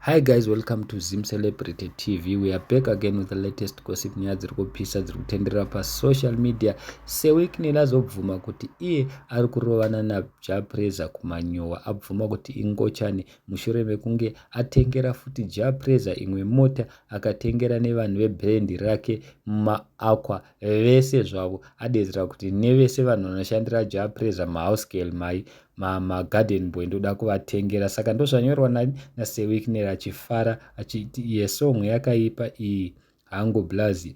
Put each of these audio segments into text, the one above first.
Hi guys welcome to Zim Celebrity TV we are back again with the latest gossip nyaya dziri kupisa dziri kutenderera pasocial media sewicknel azobvuma kuti iye ari kurovana najapreza kumanyowa abvuma kuti ingochani mushure mekunge atengera futi japreza imwe mota akatengera nevanhu vebrand rake mumaaqua vese zvavo adedzera kuti nevese vanhu vanoshandira ja pressure mahouse girl mai magarden boy ndoda kuvatengera saka ndozvanyorwa nani nasewikner achifara achiti iye songwe yakaipa iyi hangu blazi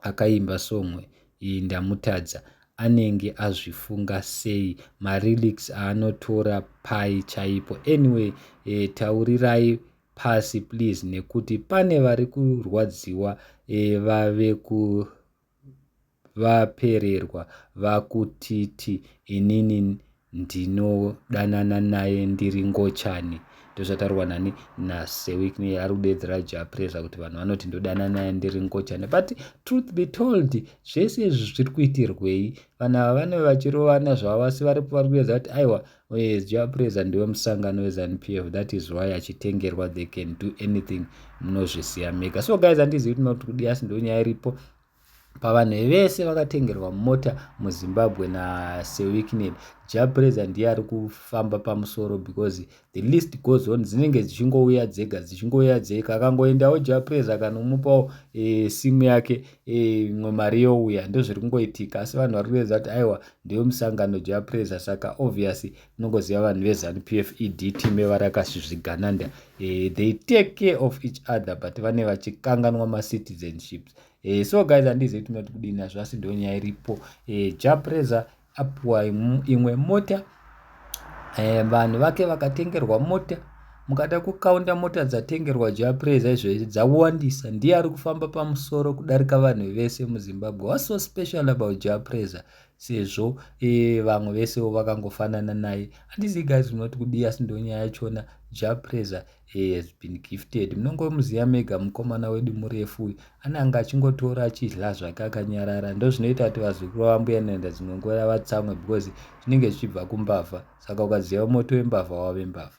akaimba songwe iyi ndamutadza anenge azvifunga sei marelics aanotora pai chaipo anyway e, taurirai pasi please nekuti pane vari kurwadziwa e, vave ku vapererwa vakutiti inini ndinodanana naye ndiri ngochani ndozvataurwa nani nasewikne ari kudeedzera japresa kuti vanhu vanoti ndodanana naye ndiri ngochani but truth be told zvese izvi zviri kuitirwei vanhu ava vanove vachirovana zvavo asi vari kuedza kuti aiwa Oye Jah Prayzah ndiwe musangano weZanu PF that is why achitengerwa they can do anything munozviziva mega so guys handizivi kuti not kudi asi ndo nyaya iripo pavanhu vese vakatengerwa mota muzimbabwe nasewicknel japreza ndiye ari kufamba pamusoro because the list goes on dzinenge dzichingouya dzega dzichingouya dzega akangoendawo japreza akanomupawo e, simu yake eh, imwe e, mari youya ndozviri kungoitika asi vanhu vari kuedza kuti aiwa Ndiyo musangano ja preza saka obvious unongoziva vanhu ve zanu PF ED team evarakasvizvigananda eh, they take care of each other but vane vachikanganwa ma citizenships eh, so guys handizivi kuti munoti kudini nazvo asi ndo nyaya iripo eh, ja preza apuwa imwe mota Vanhu vake vakatengerwa mota mukada kukaunda mota dzatengerwa Jah Prayzah izvezvi dzawandisa ndiye ari kufamba pamusoro kudarika vanhu vese muZimbabwe what's so special about Jah Prayzah sezvo vamwe vesewo vakangofanana naye handizii guys munoti kudii asi ndonyaya yachona Jah Prayzah He has been gifted. Munongomuziva mega mukomana wedu murefu uyu. Ananga achingotora achidya zvake akanyarara. Ndozvinoita kuti vazukuru vambuya Nanda dzimwe nguva vatsamwe because zvinenge zvichibva kumbavha. Saka ukaziva moto wembavha wave mbavha.